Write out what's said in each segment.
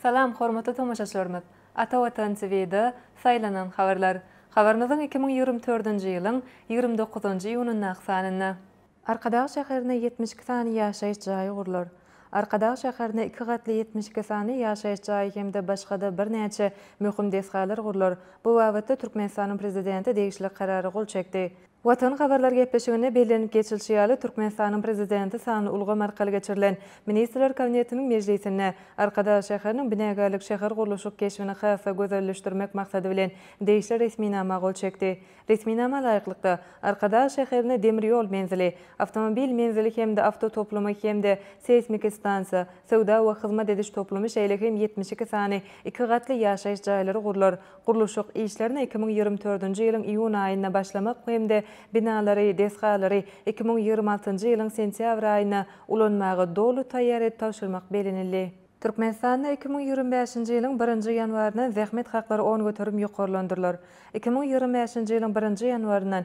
Salam, hormatly tomaşaçylarymyz! Ata Watan TV-da Saýlanan habarlar. Habarymyzyň iki müň ýigrimi dördünji ýylyň ýigrimi dokuzynjy iýunyndaky sanynda. Arkadag şäherine ýetmiş iki sany ýaşaýyş jaýy gurlar. Arkadag şäherine iki gatly ýetmiş iki sany ýaşaýyş jaýy hem-de başga-da birnäçe möhüm desgalar gurlar. Bu babatda Türkmenistanyň Prezidenti degişli Karara gol çekdi. Watan habarlar gepleşiginde bellenip geçilişi ýaly, Türkmenistanyň Prezidenti sanly ulgam arkaly geçirilen Ministrler Kabinetiniň mejlisinde Arkadag şäheriniň binagärlik şähergurluşyk keşbini has-da gözelleşdirmek maksady bilen degişli resminama gol çekdi. Resminama laýyklykda, Arkadag şäherine demir ýol menzili, awtomobil menzili hem-de awtotoplumy hem-de seýsmiki stansiýa, söwda we hyzmat ediş toplumy, şeýle hem ýetmiş iki sany iki gatly ýaşaýyş jaýlary gurlar, Gurluşyk işlerine iki müň ýigrimi dördünji ýylyň iýun aýynda başlamak hem-de binalary, desgalary iki müň ýigrimi altynjy ýylyň sentýabr aýyna ulanmaga doly taýýar edip tabşyrmak bellenildi. Türkmenistanda iki müň ýigrimi bäşinji ýylyň birinji ýanwaryndan zähmet haklary on göterim ýokarlandyrylar. Iki müň ýigrimi bäşinji ýylyň birinji ýanwaryndan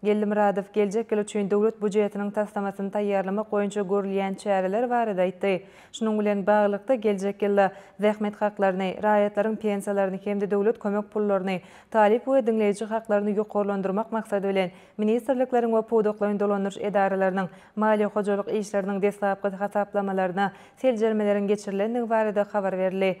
Geldimyradow geljek ýyl üçin Döwlet býujetiniň taslamasyny taýýarlamak boýunça görülýän çäreler barada aýtdy. Şunuň bilen baglylykda, geljek ýylda zähmet haklaryny, raýatlaryň pensiýalaryny hem-de döwlet kömek pullaryny, talyp we diňleýji haklaryny ýokarlandyrmak maksady bilen, ministrlikleriň we pudaklaýyn dolandyryş edaralarynyň maliýe-hojalyk işleriniň deslapky hasaplamalaryna seljermeleriň geçirilendigi barada habar berildi.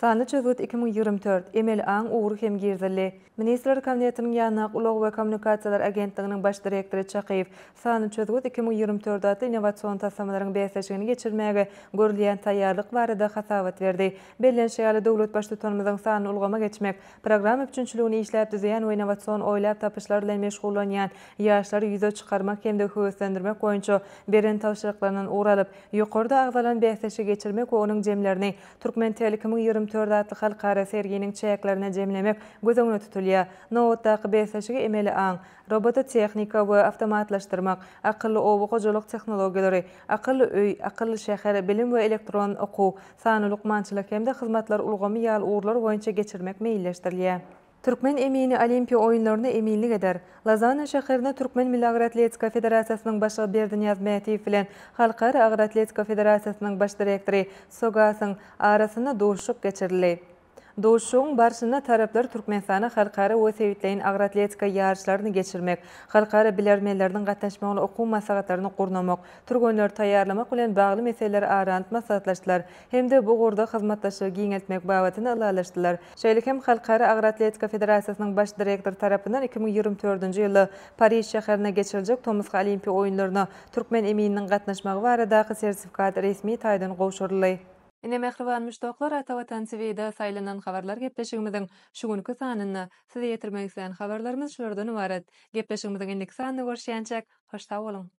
Sanly çözgüt iki müň ýigrimi dört, Emeli aň ugry hem girizildi. Ministrler Kabinetiniň Ýanlak ulag we kommunikasiýalar agentliginiň baş direktory Çakyýew Sanly çözgüt iki müň ýigrimi dört atly innowasion taslamalaryň bäsleşigini geçirmäge görülýän taýýarlyk barada hasabat berdi. Bellenişi ýaly, döwlet Baştutanymyzyň sanly ulgama geçmek, programma üpjünçiligini işläp düzýän we innowasion oýlap tapyşlar bilen meşgullanýan ýaşlary ýüze çykarmak hem-de höweslendirmek boýunça beren tabşyryklaryndan ugur alyp, ýokarda agzalan bäsleşigi geçirmek we onuň jemlerini Türkmen Telecom-yň ýigrimi dört atly halkara serginiň çäklerine jemlemek göz öňünde tutulýar. Nobatdaky bäsleşigi emeli aň, robototehnika we awtomatlaşdyrmak, akylly oba hojalyk tehnologiýalary, akylly öý, akylly şäher, bilim we elektron okuw, sanly lukmançylyk hem-de hyzmatlar ulgamy ýaly ugurlar boýunça geçirmek meýilleşdirilýär. Türkmen emini Olimpiýa oýunlaryna eminlik eder. Lozanna şäherinde Türkmen milli agyr atletika federasiýasynyň başlygy Berdinyýaz Mätiýew bilen Halkara agyr atletika federasiýasynyň baş direktory Sogasyň arasynda duşuşyk geçirildi. Duşuşygyň barşynda taraplar Türkmenistana halkara we sebitleýin agyr atletika ýaryşlaryny geçirmek, halkara bilermenleriniň gatnaşmagynda okuw maslahatlaryny gurnamak, türgenleri taýýarlamak bilen bagly meseleleri ara alyp maslahatlaşdylar hem-de bu ugurda hyzmatdaşlygy giňeltmek babatynda ylalaşdylar. Şeýle hem Halkara agyr atletika federasiýasynyň baş direktory tarapyndan iki müň ýigrimi dördünji ýylda Pariž şäherinde geçiriljek tomusky Olimpiýa oýunlaryna türkmen emininiň gatnaşmagy baradaky sertifikat resmi taýdan gowşuryldy. Ine mähriban muşdaklar Ata Watan TVda saýlanan habarlar gepleşigimiziň şu günki sanynda. Size ýetirmek islän habarlarymyz şulardan ybarat. Gepleşigimiziň indiki sanynda görüşýänçäk hoş sag boluň.